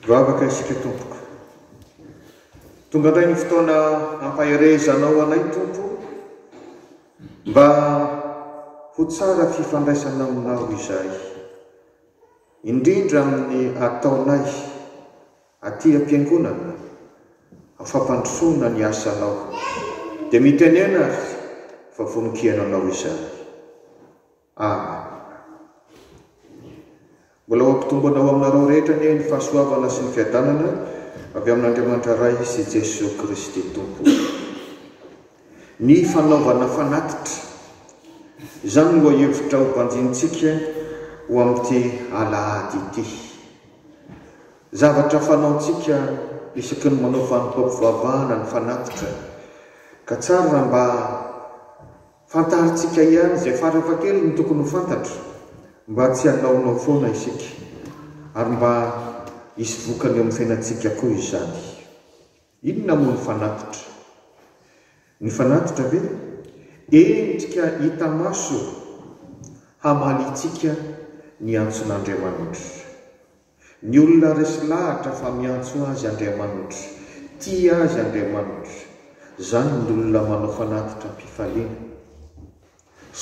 Vavaka isika Tompoko. Tonga indray ny fotoana ampaherezanao anay Tompo mba ho tsara fifandraisana aminao izay. Indrindra amin'ny ataonay aty am-piangonana amin'ny fampandrosoana ny asanao, dia mitenena aho fa vonon-kiaina anao izany. Amen. Mbola ho ampitombona ho aminareo rehetra anie ny fahasoavana sy ny fiadanana avy amin'Andriamanitra Ray sy Jesoa Kristy Tompo. Ny fanaovana fanatitra. Izany no lohahevitra hobanjinintsika ho amin'ity alahady ity. Zavatra fanaontsika isaky ny manao fanompoam-pivavahana ny fanatitra, ka tsara raha mba fantarintsika ihany izay farafahakeliny tokony ho fantatra, mba tsy hanaonao foana isika, ary mba hisy vokany eo amin'ny fiainantsika koa izany. Inona moa ny fanatitra? Ny fanatitra ve? Endrika hita maso hamalintsika ny antson'Andriamanitra. Ny olona resy lahatra fa miantso azy Andriamanitra, tia azy Andriamanitra, izany ny olona manao fanatitra am-pifaliana.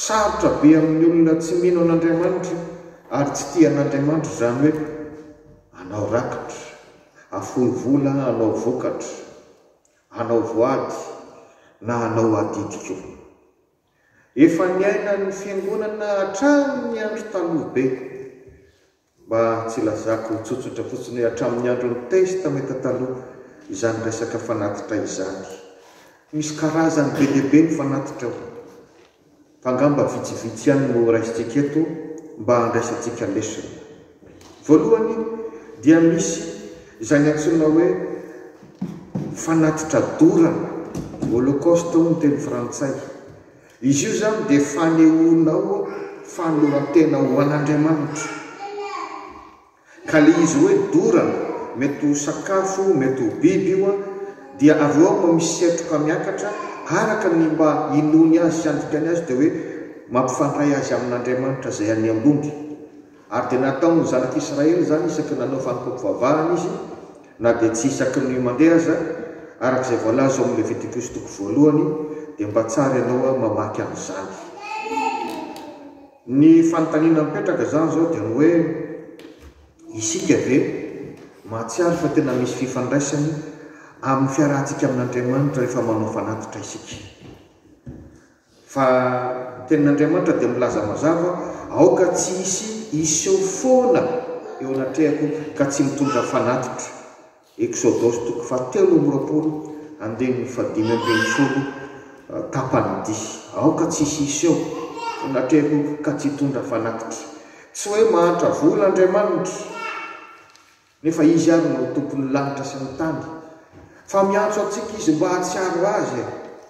Sarotra be amin'ny olona tsy mino an'Andriamanitra ary tsy tia an'Andriamanitra izany hoe anao rakitra, afoy vola anao vokatra, anao voady na anao adidy koa. Efa niainan'ny Fiangonana hatramin'ny andro taloha be. Mba tsy hilazako tsotsotra fotsiny hoe hatramin'ny andron'ny test tameta taloha izany resaka fanatitra izany. Misy karazany be dia be ny fanatitra ao. Fa angamba vitsivitsy ihany no raisintsika eto mba handraisantsika lesona. Voalohany dia misy izany antsoina hoe fanatitra dorana, holocaust hoy ny teny frantsay. Izy io izany dia fanehoanao fanoloran-tena ho an'Andriamanitra. Ka ilay izy hoe dorana, mety ho sakafo, mety ho biby io, dia avy eo aho no misetroka miakatra, araka ny mba inoany azy sy andikany azy, dia hoe mampifandray azy amin'Andriamanitra izay any ambony. Ary dia nataon' ny Zanak' Israely izany isaky ny nanao fanompoam-pivavahana izy, na dia tsy isaky ny mandeha aza, araka izay voalaza ao amin' ny Levitikus toko voalohany, dia mba tsara ianao mamaky an' izany. Ny fanontaniana mipetraka izany izao dia ny hoe, Isika ve mahatsiaro fa tena misy fifandraisany amin' ny fiarahantsika amin' Andriamanitra rehefa manao fanatitra isika? Fa ny tenin'Andriamanitra dia milaza mazava, Aoka tsy hisy hiseho foana eo anatrehako ka tsy mitondra fanatitra. Eksodosy toko fahatelo amby roapolo, andininy fahadimy ambin'ny folo, tapany D. Aoka tsy hisy hiseho eo anatrehako ka tsy hitondra fanatitra. Tsy hoe mahantra vola Andriamanitra. Nefa Izy ary no Tompon'ny lanitra sy ny tany. Fa miantso antsika Izy mba hahatsiaro Azy e!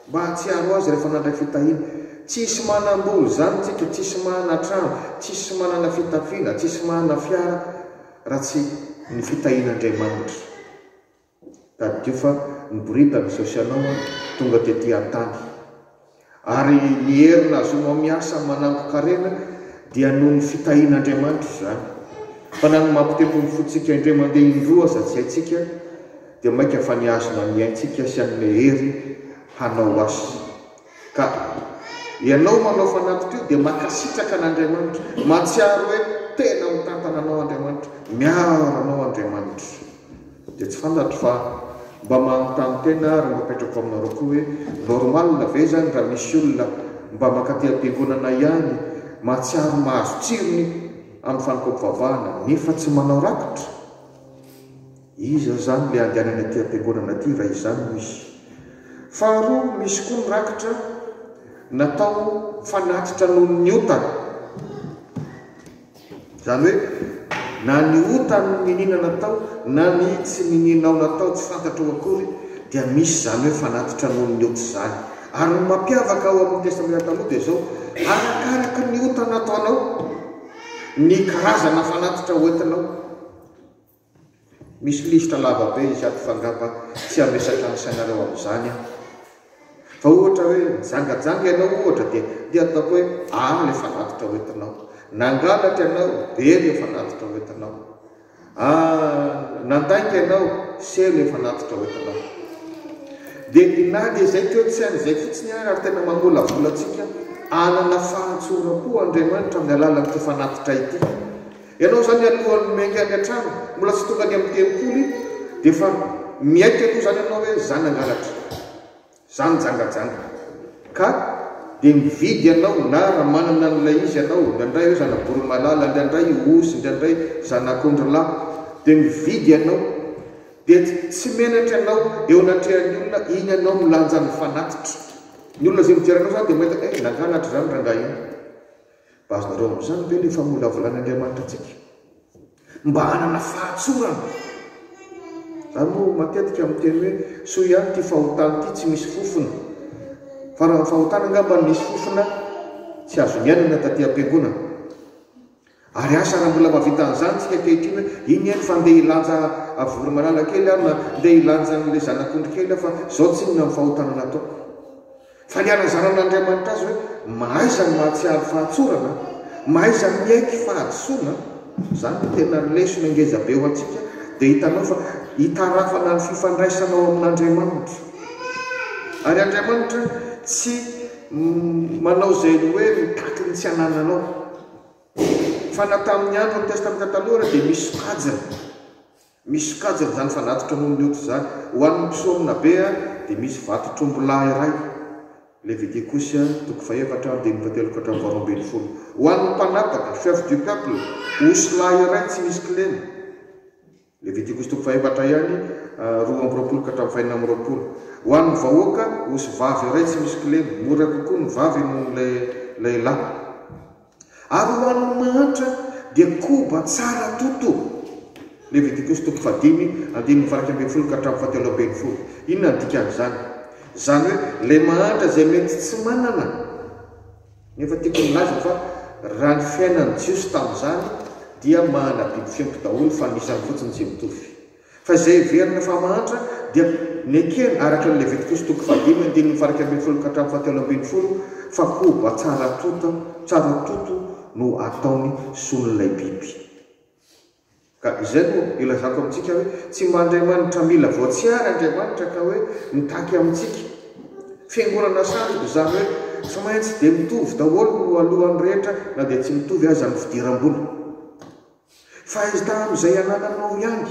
Mba hahatsiaro Azy rehefa nandray fitahiana. Tsy hisy manam-bola izany tsika, tsy hisy manana trano, tsy hisy manana fitafiana, tsy hisy manana fiara raha tsy ny fitahian'Andriamanitra. Tadidio fa niboridana izao sy ianao an, tonga tety an-tany. Ary ny hery nahazoanao miasa manangon-karena dia noho ny fitahian'Andriamanitra izany. Fa na ny mampitempo ny fontsika indray mandeha indroa aza tsy haintsika, dia mainka fa ny azona ny aintsika sy hanome hery hanao asa. Ka ianao manao fanatitra io dia makasitraka an'Andriamanitra, mahatsiaro hoe tena mitantana anao Andriamanitra, miaro anao Andriamanitra. Dia tsy fantatro fa mba manontany tena ary mba apetrako aminareo koa hoe normal ve izany raha misy olona mba mankaty am-piangonana ihany mahatsiaro mahazo tsirony amin'ny fanompoam-pivavahana nefa tsy manao rakitra? Iza zany le andehanany aty ampiangonana aty raha izany no izy? Faharoa misy koa ny rakitra natao fanatitra noho ny otany. Zany hoe na ny otany niniana natao na ny tsy ninianao natao tsy fantatrao akory dia misy zany hoe fanatitra noho ny ota zany. Ary ny mampiavaka ao amin'ny testamena taloha dia zao, arakaraky ny ota nataonao ny karazana fanatitra hoentinao. Misy lisitra lava be izy ato f'angamba tsy hamesatra an'isa anareo amin'izany aho. Fa ohatra hoe nijangajanga ianao ohatra dia dia ataoko hoe A le fanatitra hoentinao. Nangalatra ianao, B le fanatitra hoentinao. A nandainga ianao, C le fanatitra hoentinao. Dia na dia izay teo tsy an'izay fotsiny ary ary tena mamolavola antsika hanana fahatsoram-po Andriamanitra amin'ny alalan'ity fanatitra ity. Ianao izany alohan'ny miainga any an-trano, mbola tsy tonga any amin'ny tempoly, dia efa miaiky aloha izany ianao hoe izaho nangalatra, izaho nijangajanga. Ka dia mividy ianao, na raha manana an'ilay izy ianao, indraindray hoe zana-boromalala, indraindray osy, indraindray zanak'ondrilahy, dia mividy ianao. Dia tsy menatra ianao eo anatrehan'ny olona, iny ianao milanja ny fanatitra. Ny olona izay mijery anao izany dia mahita, eh, nangalatra izany rangahy iny. Mba azonareo amin'izany ve ilay famolavolan'Andriamanitra antsika mba hanana fahatsorana? Ary moa matetika miteny hoe soa ihany ity fahotana ity tsy misy fofona. Fa raha ny fahotana angamba ny misy fofona tsy azo niainana taty am-piangonana. Ary asa raha mbola mavita an'izany tsika ankehitriny hoe iny eny fa ndeha hilanja avory malala kely aho na ndeha hilanja an'ilay zanak'ondry kely aho fa izao tsinona ny fahotana nataoko. Fa ny hanazaran'Andriamanitra azy hoe mahaiza ny mahatsiaro fahatsorana, mahaiza miaiky fahadisoana, izany no tena lesona ngeza be ho antsika, dia hitanao fa hitarafana ny fifandraisanao amin'Andriamanitra. Ary Andriamanitra tsy manao izay ny hoe mitaky ny tsy hanananao. Fa na tamin'ny andron'ny Testamenta Taloha ary dia misy sokajiny. Misy sokajiny izany fanatitra noho ny ody izany. Ho an' ny mpisorona be dia misy vato trombo lahy iray, Leviticus toko fahefatra andininy fahatelo ka hatramin'ny faharoa ambin'ny folo. Ho an' ny mpanataka, chef du peuple, osy lahy iray tsy misy kilema, Leviticus toko fahefatra ihany, roa amby roapolo ka hatramin'ny fahenina amby roapolo. Ho an' ny vahoaka, osy vavy iray tsy misy kilema, mora kokoa ny vavy noho ny lehilahy. Ary ho an'ny mahantra dia koba tsara toto. Levitikosy toko fahadimy, andininy faha-iraika ambin'ny folo ka hatramin'ny fahatelo ambin'ny folo. Inona no dikan'izany? Izany hoe ilay mahantra izay mety tsy manana. Nefa tiako nilaza fa raha ny fiainan'ny Jiosy tamin'izany dia mahana biby fiompy daholo fa ny isany fotsiny tsy mitovy. Fa izay heverina fa mahantra dia nekena araka ny Levitikosy toko fahadimy andininy faha iraika ambin'ny folo ka hatramin'ny fahatelo ambin'ny folo fa koba tsara tota, tsara toto no ataony solon'ilay biby. Ka izay no ilazako amintsika hoe tsy mba Andriamanitra mila voatsiary Andriamanitra ka hoe mitaky amintsika. Fiangonana sandoka izany hoe tsy maintsy dia mitovy daholo no alohan'ny rehetra na dia tsy mitovy aza ny fidiram-bola. Fa izy tamin'izay anananao ihany.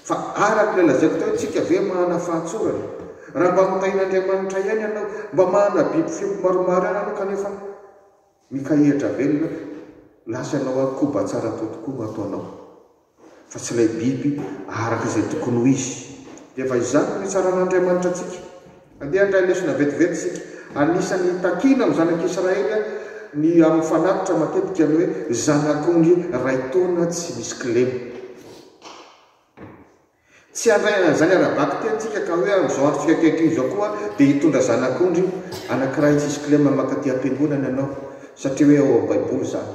Fa araka ilay lazaiko teo, tsika ve mahana fahatsorana? Raha mba mitahin'Andriamanitra ihany ianao, mba mahana biby fiompy maromaro ihany ianao kanefa mikahihatra velona, lasa ianao ary koba tsara tao tokoa no ataonao. Fa tsy ilay biby araka izay tokony ho izy. Dia efa izany no hitsaran'Andriamanitra antsika. Andeha handray lesona vetivety isika. Anisan'ny takina amin'ny Zanak'Israely ny amin'ny fanatitra matetika ny hoe zanak'ondry iray taona tsy misy kilema. Tsy handray an'izany ara-bakiteny isika ka hoe amin'izao andro fikaikaikio izao koa dia hitondra zanak'ondry anankiray tsisy kilema mankaty am-piangonana ianao satria hoe ao amin'ny Baiboly izany.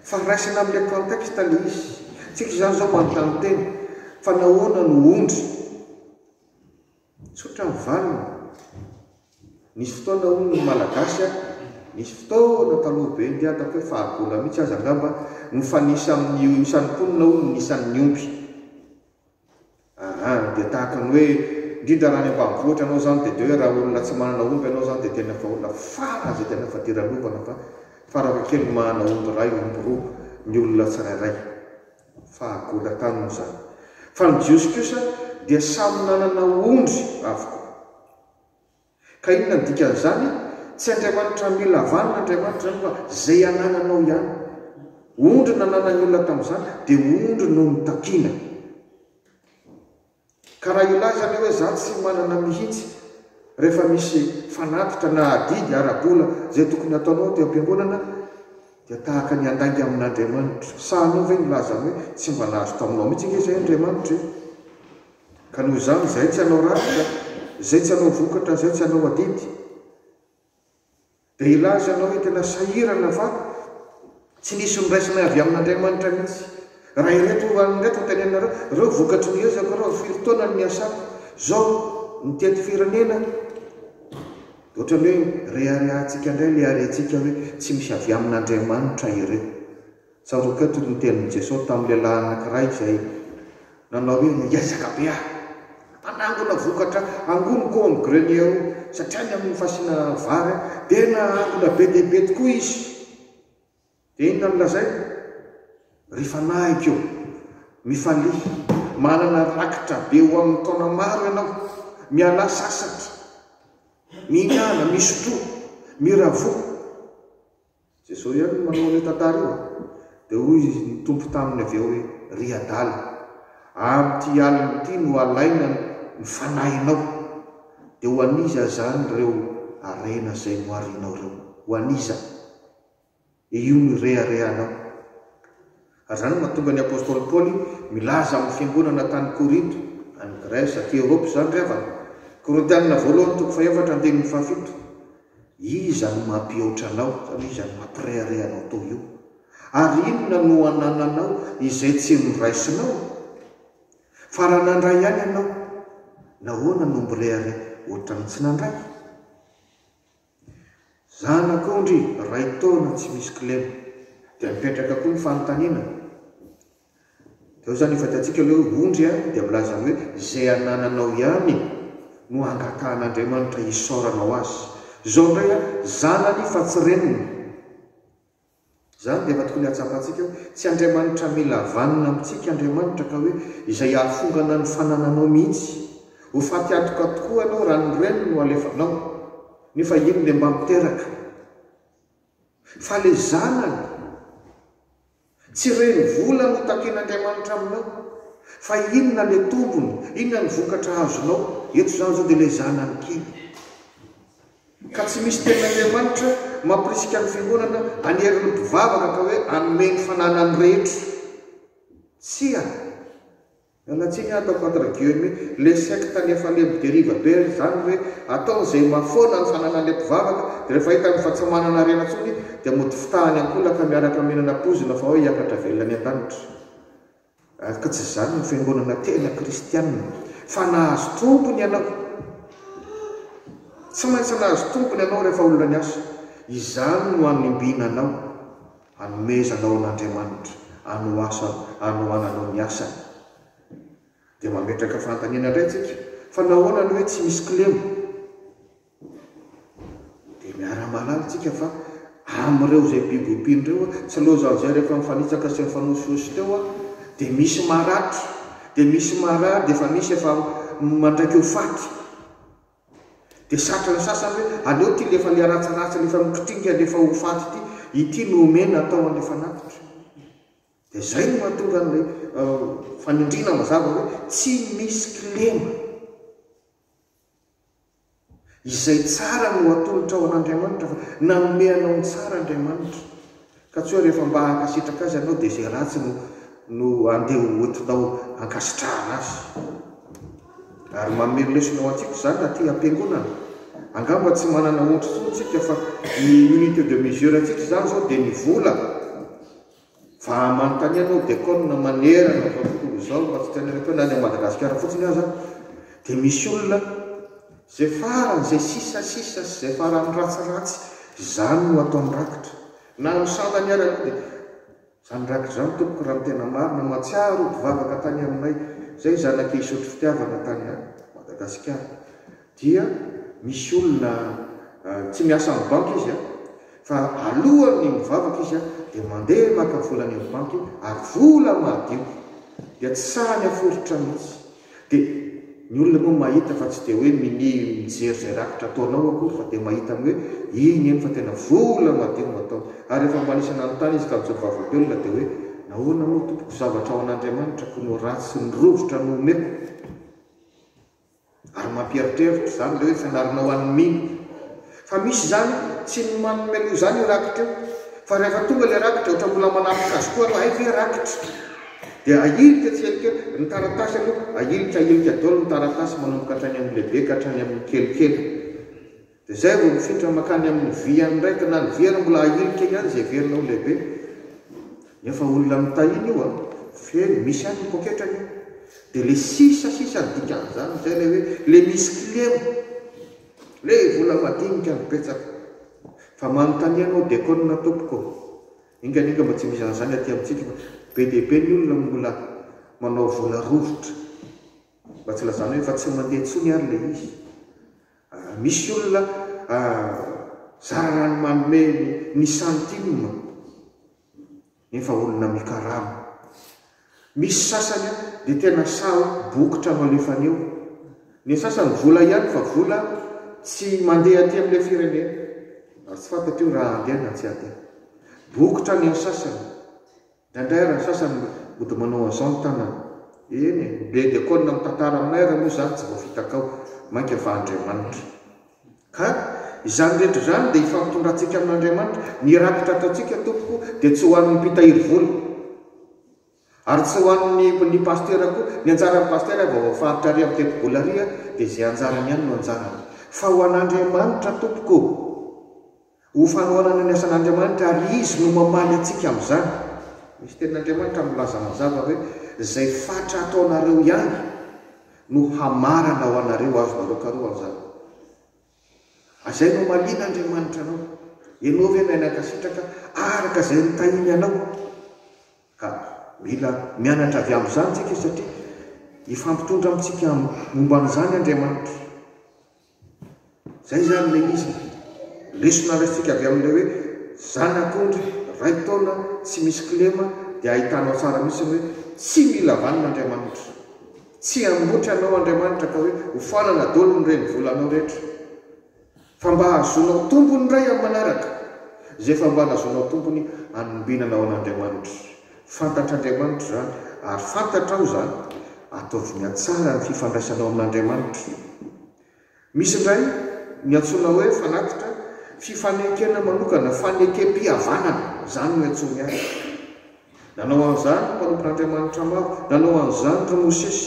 Fa raisina amin'ilay contexte ilay izy. Tsika izany izao manontany tena fa nahoana no ondry? Tsotra ny valiny, nisy fotoana hono ny Malagasy a, nisy fotoana taloha be nge ataoko hoe fahagola mihitsy aza angamba no fa nisy amin'ny isan'ny mponina hono ny isan'ny omby. Aa dia tahaka ny hoe indrindra raha any ambanivohitra ianao izany dia dia hoe raha olona tsy manana omby ianao izany dia tena fa olona fara izay tena fa dira lovana fa farakakely ny manana omby iray, omby roa ny olona tsirairay. fahagolan-tany moa izany, fa ny Jiosy kosa dia samy nanana ondry avokoa. Ka inona no dikan'izany? Tsy Andriamanitra hamela vanona Andriamanitra izany fa izay anananao ihany. Ondry nananan'ny olona tamin'izany dia ondry no notakiana. Ka raha hilaza ny hoe za tsy manana mihitsy rehefa misy fanatitra na adidy ara-bola zay tokony ataonao aty am-piangonana dia tahaka ny handainga amin'Andriamanitra. Sahanao ve ny lazany hoe tsy mba nahazo taminao mihitsy ange zay Andriamanitra e? Ka noho izany zay tsy hanao rafitra, zay tsy hanao vokatra, zay tsy hanao adidy. Dia hilaza ianao hoe, Tena sahirana va? Tsy nisy noraisina avy amin'Andriamanitra mihitsy. Raha ireto ihany indray tanteneninareo, ireo vokatry ny ezako ireo, firy taona no niasako, izao ny teto firenena, dia ohatran'ny hoe reharehantsika indray ilay harentsika hoe tsy misy avy amin'Andriamanitra ireo. Tsaroako eto ny tenin'i Jesoa tamin'ny lehilahy anankiray izay nanao hoe, Miezaka be aho hanangona vokatra angoniko ao amin'ny grenier ao, satria any amin'ny fasiana vary dia nahangona be dia be tokoa izy. Dia inona no lazainy? Ry fanahiko ô, mifalia, manana rakitra be ho amin'ny taona maro ianao, mialà sasatra, mihinàna, misotroa, miravoa. Jesosy ihany no manao an'io tantara io a! Dia hoy ny Tompo taminy avy eo hoe, Ry adala, amin'ity alina ity no alaina ny fanahinao. Dia ho an'iza azany ireo harena izay noharianao ireo? Ho an'iza? Dia io no ireharehanao. Ary izany no mahatonga ny apostoly Paoly milaza amin'ny fiangonana tany Korinto, any Grèce, aty Europe izany ry havana. Korintianina voalohany toko fahefatra andininy fahafito, Iza no mampihoatra anao, izany hoe iza no mampirehareha anao toa io? Ary inona no anananao izay tsy noraisinao? Fa raha nandray ihany ianao, nahoana no mirehareha ohatran'ny tsy nandray? Zanak'ondry iray taona tsy misy kilema. Dia mipetraka koa ny fanontaniana, dia ao izany io fadiantsika ilay hoe ondry a, dia milaza ny hoe izay anananao ihany no angatahan'Andriamanitra isaorana ho azy. Izao indray a, zanany fa tsy reniny. Izany dia efa tokony hatsapantsika hoe tsy Andriamanitra mila vanona amintsika Andriamanitra ka hoe izay hahafongana ny fanananao mihitsy. Ho faty antoka tokoa ianao raha ny reny no alefanao. Nefa iny ilay mba miteraka fa ilay zanany. Tsy reny vola no takian'Andriamanitra aminao fa inona ilay tombony, inona ny vokatra azonao. Eto izany izao dia ilay zanany kely. ka tsy misy tenin'Andriamanitra mampirisika ny fironana hanerin'ny mpivavaka ka hoe hanome ny fananany rehetra. Tsia. Miala tsiny aho ataoko entre guillemets, le secte any efa le mideriva be zany hoe ataony zay mahafoana ny fananan'le mpivavaka de refa hitany fa tsy manana harena tsony de mody fitahany ankolaka miaraka mihinana poizina fa hoe hiakatra velona any an-danitra. Araka tsy izany ny fiangonana tena kristiana, fa nahazo tompony ianao. Tsy maintsy nahazo tompony ianao rehefa olona niasa. Izany no hanimbina anao, hanomezanao an'Andriamanitra, hanoasany, hanohananao ny asany. Dia mametraka fanontaniana indray isika, fa nahoana no hoe tsy misy kilema? Dia miara-mahalala tsika fa amin'ireo izay biby ompiana ireo, tsy loizan'izay rehefa mifanitsaka sy mifanosiosy teo dia misy maratra, dia misy marary, dia efa misy efa mandraika ho faty. Dia satrin'ny sasany hoe aleo ity lefa le ratsiratsy lefa mikitinga lefa ho faty ity, ity no omena atao an'ilay fanatitra. Dia izay no mahatonga an'ilay fanindriana mazava hoe tsy misy kilema. Izay tsara no atolotra ho an'Andriamanitra, fa nanome anao ny tsara Andriamanitra. Ka tsy hoe rehefa mba hankasitraka Azy ianao dia izay ratsy no no andeha ho entinao hankasitrahana Azy. Ary manome lesona ho antsika izany aty am-piangonana. Angamba tsy manana ohatra intsony isika fa ny unité de mesure antsika izany izao dia ny vola. Fa manontania anao Deacon manerana izao tontolo izao mba tsy tena eto na any Madagasikara fotsiny aza dia misy olona izay farany izay sisa sisa sy izay farany ratsiratsy izany no ataony rakitra na amin'ny sandany ary aloha dia izany rakitra izany tompoko raha ny tena marina matsiaro ody vavaka tany aminay izay zanak'i Isotry Fitiavana tany Madagasikara dia misy olona tsy miasa amin'ny banky izy a, fa alohan'ny mivavaka izy dia mandeha maka vola any amin'ny banky ary vola madio dia tsy sahy mihaforitra mihitsy, dia ny olona moa mahita fa tsy dia hoe minia mijery izay rakitra ataonao akory fa dia mahita ny hoe iny eny fa tena vola madio no ataony ary rehefa manisa nanontany izy tamin'izay mivavak'olona dia hoe nahoana moa tompoko zavatra ao an'Andriamanitra ko no ratsy ny rovitra no omeko Ary mampieritreritra izany ilay hoe fanarinao an'i Mino. Fa misy izany, tsy ny manome loha izany io rakitra io. Fa rehefa tonga ilay rakitra, ohatra mbola manatrika azy koa ianao, hay ve rakitra? Dia ahilika tsielikely, ny taratasy aloha, ahilika ahilika daholo ny taratasy manomboka hatrany amin'ny lehibe ka hatrany amin'ny kelikely. Dia izay vao mifintra mankany amin'ny vy ihany indray, ka na ny vy ary mbola ahilika ihany izay heverina ho lehibe. Nefa olona mitahina io a! Feno, misy ihany ny poketrany io. Dia ilay sisa sisa ny dikan'izany izay ilay hoe ilay misy kilema, ilay vola madinika no betsaka. Fa manontania anao Dekona tompoko, enga enga mba tsy misy an'izany aty amintsika fa be dia be ny olona mbola manao vola rovitra. Mba tsy lazanao efa tsy mandeha intsony ary ilay izy. Raha misy olona zararano manome ny centime nefa olona mikarama. Misy sasany dia tena sahy bokotra no alefany eo. Ny sasany vola ihany fa vola tsy mandeha aty amin'ilay firenena ary tsy fantatro io raha handeha na tsy handeha. Bokotra ny antsasany. Indraindray ary ny sasany mody manao an'izao ny tanana. Eny e, be dia koa ny namitantara aminay ary moa izany tsy voafita tao, mainka fa Andriamanitra. Ka izany rehetra izany dia ifampitondrantsika amin'Andriamanitra. Ny rakitra ataontsika tompoko dia tsy ho an'ny mpitahiry vola ary tsy ho an'ny ny pasitera koa. Ny anjaran'ny pasitera vao voafaritra ary amin'ny tetibola ary dia izay anjarany ihany no anjarany. Fa ho an'Andriamanitra tompoko. Ho fanohanana ny asan'Andriamanitra ary Izy no mamaly antsika amin'izany. Misy tenin'Andriamanitra milaza mazava hoe, Izay fatra ataonareo ihany no hamarana ho anareo, azonareo karohina izany. Izay no hamalian'Andriamanitra anao. Ianao ve nahay nankasitraka araka izay nitahiany anao? Ka mila mianatra avy amin'izany isika satria hifampitondra amintsika momba an'izany Andriamanitra. Izay izany ilay izy. Lesona raisintsika avy amin'ilay hoe zanak'ondry iray taona tsy misy kilema dia ahitanao tsara mihitsy ny hoe tsy mila vanona Andriamanitra. Tsy hambotra anao Andriamanitra ka hoe hofanana daholo ny renivolanao rehetra. Fa mba hahazoanao tombony indray amin'ny manaraka izay efa mba nahazoanao tombony hanombinana ho an'Andriamanitra. Fantatr'Andriamanitra izany, ary fantatrao izany. Ataovy mihatsara ny fifandraisanao amin'Andriamanitra. Misy indray ny antsoina hoe fanatitra, fifanekena manokana, fanekem-pihavanana, izany no iantsoany azy. Nanao an'izany ny mpanompon'Andriamanitra maro. Nanao an'izany ry Mosesy.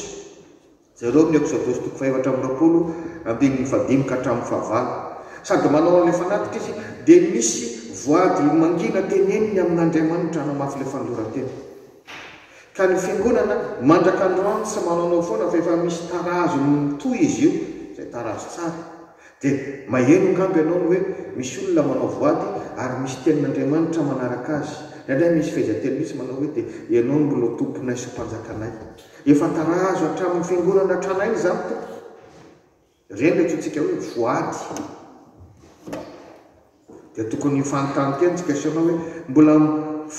Jereo amin'ny Eksodosy toko fahaefatra amby roapolo, andininy fahadimy ka hatramin'ny fahavalo. Sady manao an'ilay fanatitra izy, dia misy voady mangina teneniny amin'Andriamanitra hanamafy ilay fanoloran-tena. Ka ny Fiangonana, mandraka androany, tsy manaonao foana fa efa misy tarazo mitohy izy io, izay tarazo tsara. Dia maheno angamba ianao ny hoe misy olona manao voady ary misy tenin'Andriamanitra manaraka azy. Indraindray misy fehezanteny mihitsy manao hoe dia ianao no mbola Tomponay sy Mpanjakanay. Efa tarazo hatramin'ny fiangonana tranainy izany tompoko. Ireny ilay antsointsika hoe voady. Dia tokony hifanontany teny tsika sy ianao hoe mbola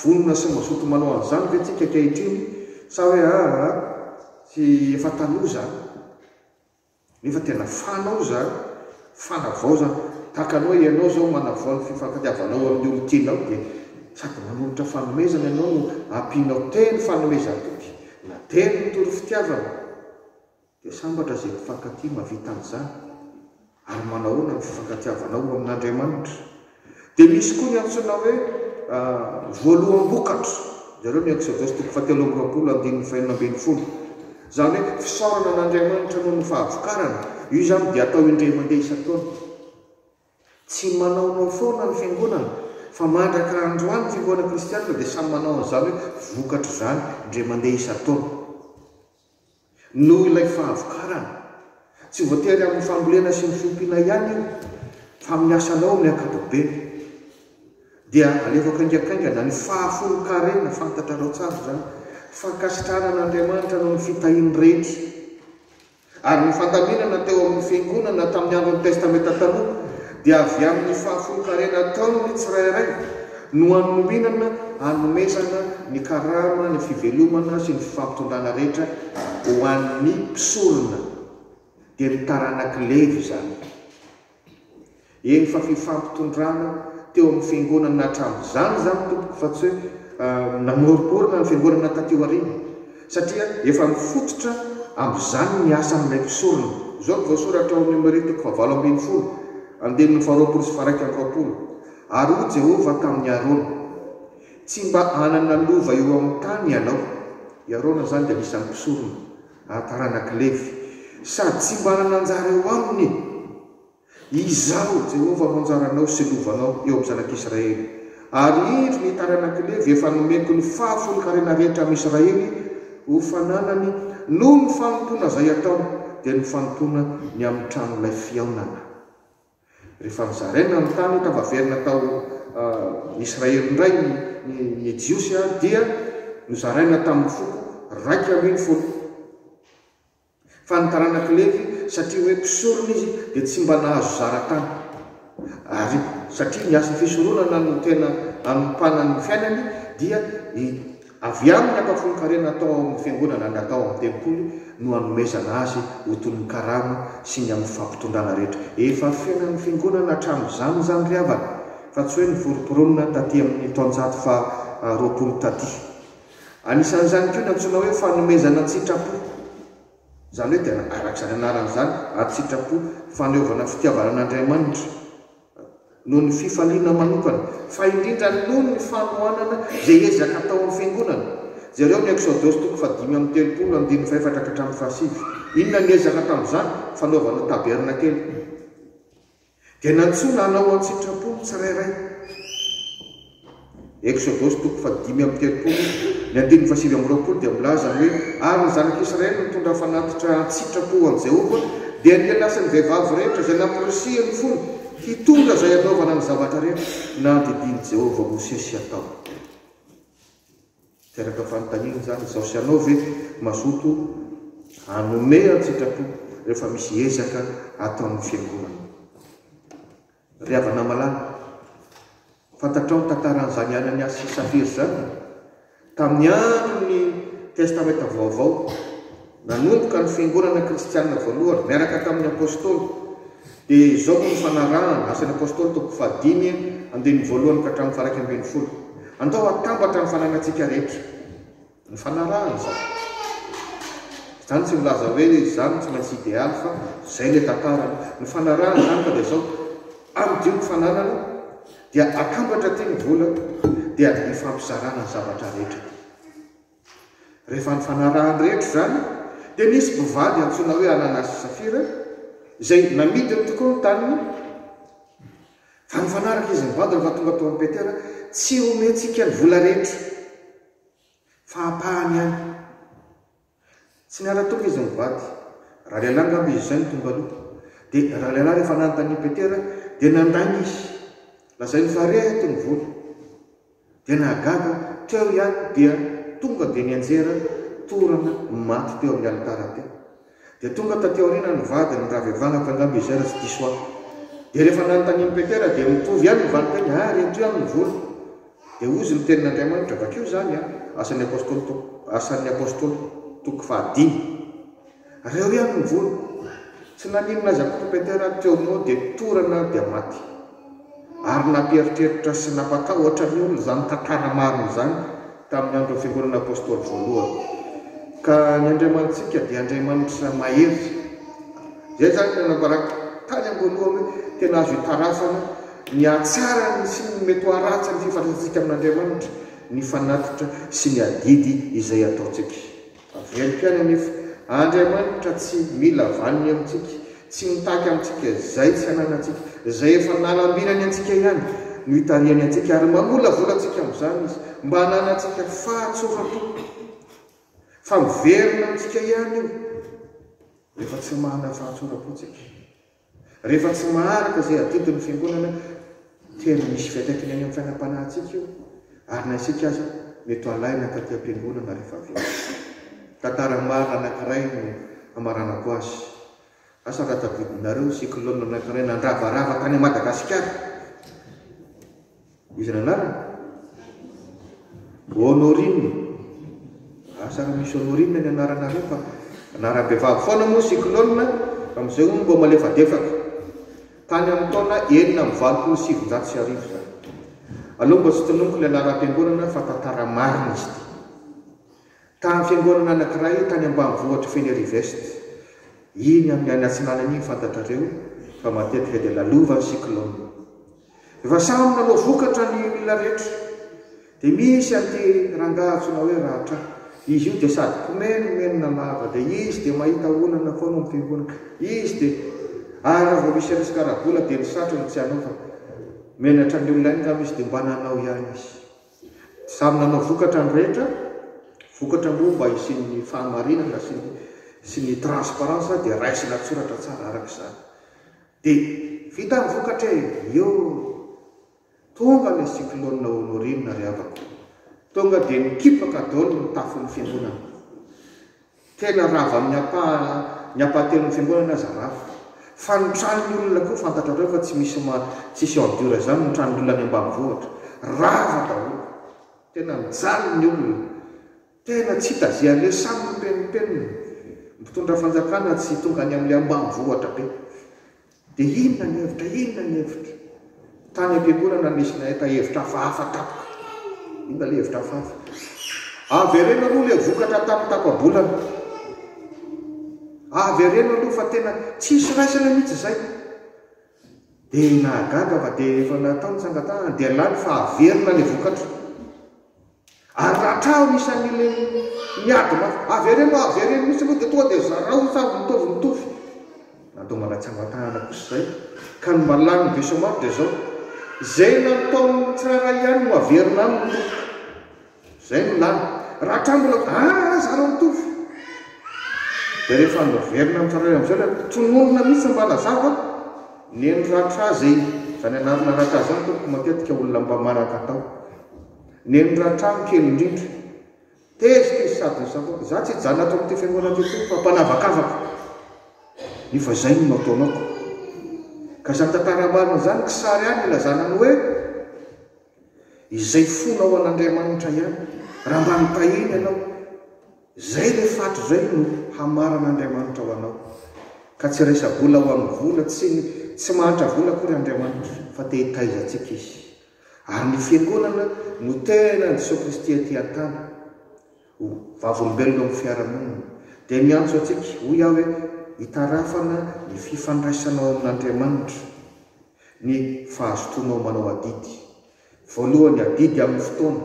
vonona sy mazoto manao an'izany ve tsika ankehitriny sa hoe aa tsy efa taloha izany. Nefa tena fana aho zany, fanavaozana. Tahaka anao ianao zao manavao ny fifankatiavanao amin'io amin'ny tianao dia sady manolotra fanomezana ianao no ampianao teny fanomezan-toky na teny mitory fitiavana. Dia sambatra izay mpifankatia mahavita an'izany. Ary manahoana ny fifankatiavanao amin'Andriamanitra? Dia misy koa ny antsoina hoe voaloham-bokatra, ianareo miantoka Exodos toko fahatelo amby roapolo andininy fahenina ambin'ny folo, izany hoe fisaorana an'Andriamanitra noho ny fahavokarana, io izany dia atao indray mandeha isan-taona. Tsy manaonao foana ny fiangonana, fa mandraka androany ny fiangonana kristianina dia samy manao an'izany hoe vokatra izany indray mandeha isan-taona. Noho ilay fahavokarana. Tsy voatery amin'ny fambolena sy ny fiompiana ihany io, fa amin'ny asanao amin'ny ankapobeny. Dia alefako haingankaingana ny fahafolonkarena, fantatrareo tsara izany. Fankasitrahana an'Andriamanitra noho ny fitahiany rehetra. Ary ny fandaminana teo amin'ny Fiangonana tamin'ny andron'ny Testamenta Taloha. dia avy amin'ny fahafolonkarena ataony ny tsirairay no hanomenana hanomezana ny karama, ny fivelomana sy ny fifampitondrana rehetra ho an'ny mpisorona, dia ny taranak'i Levy izany. Eny fa fifampitondrana teo amin'ny fiangonana hatramin'izany izany tompoko fa tsy hoe namoromporona ny fiangonana taty aoriana. satria efa mifototra amin'izany ny asan'ilay mpisorona. Izao no voasoratra ao amin'ny Omelia toko fahavalo ambin'ny folo, andininy faharoapolo sy faharaika amby roapolo, Ary hoy Jehovah tamin'i Arona, Tsy mba hanana lova eo amin'ny tany ianao, i Arona izany dia anisan'ny mpisorona ary taranak'i Levy, sady tsy mba hanana anjara eo aminy. Izaho, Jehovah, no anjaranao sy lovanao eo amin'ny zanak'Israely, ary indro ny taranak'i Levy efa nomeko ny fahafolonkarena rehetra amin'i Israely ho fananany, noho ny fanompoana izay ataony, dia ny fanompoana ny amin'ny tranolay fihaonana. Rehefa nozaraina ny tany, tafaverina tao Israely indray ny Jiosy, dia nozaraina tamin'ny foko raika ambin'ny folo. Fa ny taranak'i Levy, satria hoe mpisorona izy, dia tsy mba nahazo zara tany. Ary satria ny asa fisoronana no tena anompanan'ny fiainany, dia ny avy amin'ny ampahafolon-karena atao ao amin'ny fiangonana na atao ao amin'ny tempoly no anomezana azy ho toy ny karama sy ny amin'ny fampitondrana rehetra. Efa fiainan'ny fiangonana hatramin'izany izany ry havana, fa tsy hoe noforomporonina taty amin'ny taonjato faharoapolo taty. Anisan'izany koa ny antsoina hoe fanomezana an-tsitrapo. Izany hoe tena araka izany anarany izany, an-tsitrapo, faneovana fitiavana an'Andriamanitra, noho ny fifaliana manokana, fa indrindra noho ny fanohanana izay ezaka ataon'ny Fiangonana. Jereo ny Eksodosy toko fahadimy amby telopolo, andininy fahefatra ka hatramin'ny fahasivy. Inona no niezaka tamin'izany fanaovana tabernakely? Dia nantsoina hanao an-tsitrapo ny tsirairay. Eksodosy toko fahadimy amby telopolo, ny andininy fahasivy amby roapolo dia milaza ny hoe, Ary ny Zanak'i Israely nitondra fanatitra an-tsitrapo ho an'i Jehovah, dia ny lehilahy sy ny vehivavy rehetra izay nampirisihin'ny fony hitondra izay hanaovana ny zavatra rehetra nandidian'i Jehovah Mosesy hatao. Teraka fanontaniana izany izaho sy ianao ve mazoto hanome an-tsitrapo rehefa misy ezaka ataon'ny fiangonana? Ry havana malala, fantatrao ny tantaran'izany Ananiasy sy Safira izany? Tamin'ny andron'ny Testamenta Vaovao, Nanomboka ny fiangonana kristianina voalohany niaraka tamin'ny Apôstôly, dia izao no nifanarahana, Asan'ny Apôstôly toko fahadimy, andininy voalohany ka hatramin'ny faha-iraika ambin'ny folo, Andao hatambatra ny fananantsika rehetra. Nifanarahana izany. Izany tsy milaza hoe izany no tsy maintsy idealy fa izay ilay tantarany. Nifanarahana izany ka dia izao, amidio ny fananana, dia atambatra aty ny vola, dia hifampizarana ny zavatra rehetra. Rehefa nifanarahan'ny rehetra izany, dia nisy mpivady antsoina hoe Ananasy sy Safira, izay namidiny tokoa ny taniny, fa nifanaraka izy mivady rehefa tonga tao amin'i Petera, tsy homentsika ny vola rehetra, fa ampahany ihany. Tsy niara-tonga izy mivady. Ralehilahy angamba izy izay no tonga aloha. Dia ralehilahy rehefa nanontanian'i Petera, dia nandainga izy. Lazainy fa reto ny vola. Dia nahagaga aho, teo ihany dia tonga dia nianjera torana ny maty teo amin'ny alitara teo. Dia tonga taty aoriana ny vadiny ny ravevanako angamba izay raha tsy diso aho. Dia rehefa nanontanian'i Petera dia mitovy ihany ny valin-teny, ah ry ento ihany ny vola. Dia hozy ny tenin'Andriamanitra, vakio izany an, Asan'ny Apostoly toko, Asan'ny Apostoly, toko fahadimy. Reo ihany no vono. Tsy naninona aza Kouroupeter ary Kiono dia torana dia maty. Ary nampieritreritra sy nampatahotra ny olona izany tantara marina izany tamin'ny andron'ny Fiangonana Apôstôly Voalohany. Ka ny Andriamanitsika dia Andriamanitra mahery. Izay izany no nambarako tany am-boalohany hoe tena azo itaratsana ny hatsarany sy ny mety ho haratsiny fifandraisantsika amin'Andriamanitra ny fanatitra sy ny adidy izay ataontsika. Tavela ihany anefa, Andriamanitra tsy mila vaniny amintsika, tsy mitaky amintsika izay tsy ananantsika, izay efa nanambinany antsika ihany no itarihany antsika ary mamolavola antsika amin'izany Izy mba hananantsika fahatsoram-po. Fa miverina amintsika ihany io rehefa tsy manana fahatsoram-po isika. Rehefa tsy maharaka izay adidy ny Fiangonana dia ny misy fiantraikany any amin'ny fiainam-panahintsika io, ary na isika aza mety ho alaina taty am-piangonana rehefa avy eo. Tantara marina anankiray no hamaranako azy. Asa raha tadidinareo cyclone anankiray nandravarava tany Madagasikara? Iza ny anarany? Honorine, ah sa raha misy Honorine ny anaranareo fa anaram-behivavy foana moa Cyclone a, amin'izay hono mboa malefadefaka. Tany amin'ny taona enina amby valopolo sy sivinjato sy arivo izany. Aleo mba tsy tononiko ilay laharam-piangonana fa tantara marina izy ity. Tamin'ny fiangonana anankiray tany ambanivohitr'i Fenerive-Est, iny amin'ny any atsinanana iny fantatrareo fa matetika dia lalovan'ny cyclone. Efa samy nanao vokatra ny olona rehetra dia misy an'ity rangahy antsoina hoe Ratra izy io dia sady mpimenomenona lava dia izy dia mahita olana foana ao am-pironka izy dia ary raha vao misy resaka ara-bola dia ny satriny tsy hanao fa menatra ny olona angamba izy dia mba nanao ihany izy samy nanao vokatra ny rehetra vokatra moa mba hisian'ny fahamarinana sy ny sy ny transparence dia raisina an-tsoratra tsara araka izany Dia vita ny vokatra e! Yoh! Tonga ilay cyclone Honorine ry havako! Tonga dia nikipaka daholo ny tafon'ny fiangonana. Tena rava amin'ny ampaha, ny ampahatenin'ny fiangonana aza rava. Fa ny tranon'ny olona koa fantatrareo fa tsy misy ma, tsisy en dur izany ny tranon'olona any ambanivohitra. Rava daholo. Tena nijaly ny olona. Tena tsy hita ze anle samy mipenimpenina mpitondra fanjakana tsy tonga any amle ambanivohitra be de inona ny hevitra inona ny hevitra tany ampiangorana nisy nahita hevitra hafahafa tapoka inona le hevitra hafahafa avereno aloha le vokatra tamy tapabolana avereno aloha fa tena tsisy raisina mitsy zay de nahagaga fa de efa natao ny tsangatahany de lany fa averina le vokatra Ary raha trano isan'ireny miady mafy, avereno a, avereno mihitsy aloha dia tonga dia zarao ny tambo mitovy mitovy. Natao manatsangatahana kosa izay ka ny malalin'ny be somary dia izao, izay nataon'ny tsirairay ihany no averina any ny roboka. Izay no lany. Raha trano mbola a, a zarao mitovy. Dia rehefa averina amin'ny tsirairay amin'izay ilay tononina mihitsy mba nazava, neny ratra izay izany anarana ratra izany tompoko matetika olona mba manan-katao. Neniratrano kely indrindra. Tezitra izy sady nisavona. Izaho tsy hijanona ato amin'ity fiangonana ity intsony fa mpanavakavaka. Nefa izay no nataonako. Ka izany tantara marina izany kisary ihany ilazana ny hoe izay fonao an'Andriamanitra ihany. Raha mba nitahiana ianao, izay ilay faty izay no hamaran'Andriamanitra ho anao. Ka tsy resa-bola ho amin'ny vola, tsy tsy mahantra vola akory Andriamanitra fa te hitaiza antsika Izy. Ary ny fiangonana no tena an'i Jesoa Kristy aty an-tany, ho vavolombelona amin'ny fiarahamonina, dia miantso antsika, hoy aho hoe, hitarafana ny fifandraisanao amin'Andriamanitra, ny fahazotoanao manao adidy. Voalohany, adidy amin'ny fotoana.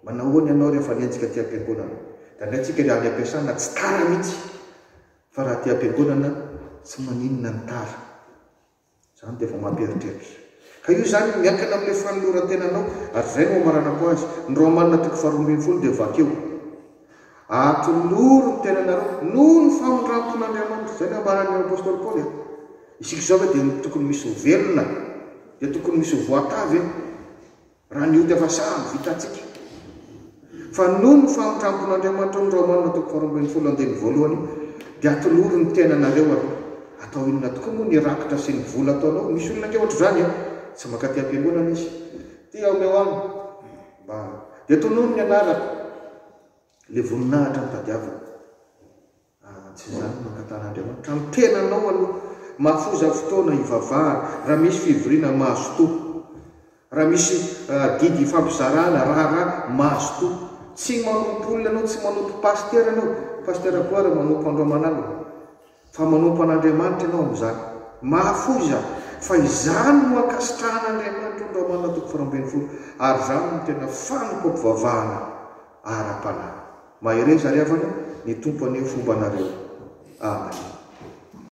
Manahoana ianao rehefa nienjika aty am-piangonana? Dia alaintsika raha any am-piasana, tsy tara mihitsy, fa raha aty am-piangonana, tsy maninona ny tara. Izany dia efa mampieritreritra. Ka io izany miankina amin'ilay fanoloran-tenanao, ary izay no amaranako azy. Ny Romanina toko faharoa ambin'ny folo dia vakio, Atoloro ny tenanareo noho ny famindram-pon'Andriamanitra. Izay no ambaran'ny apostoly Paoly an. Isika izao ve dia tokony misy ho velona? Dia tokony misy ho voatavy? Raha ny ody efa sahy vitantsika. Fa noho ny famindrampon'Andriamanitra ny Romana toko faharoa ambin'ny folo andininy voalohany dia atolory ny tenanareo aloha. Atao inona tokoa moa ny rakitra sy ny vola ataonao? Misy olona ange ohatr'izany e! Tsy mankaty am-piangonana izy. Ty aho omeo aminy mba dia tonony ny anarako. Ilay voninahitra no tadiaviny. Aah tsy izany no nangatahàn'Andriamanitra amin'ny tenanao aloha. Mahafoza fotoana hivavahana raha misy fivoriana mahazotoa. Raha misy adidy ifampizaràna, raharaha, mahazotoa. Tsy manompo olona ianao, tsy manompo pasitera ianao, Pasitera Gloire manompo andro aman'alina, fa manompo an'Andriamanitra ianao amin'izany. Mahafoza fa izany no ankasitrahan'Andriamanitra andro aman'alina toko faharoa ambin'ny folo ary izany no tena fanompoam-pivavahana ara-panahy. Mahereza ry havana, ny Tompo haneho fomba anareo. Amen.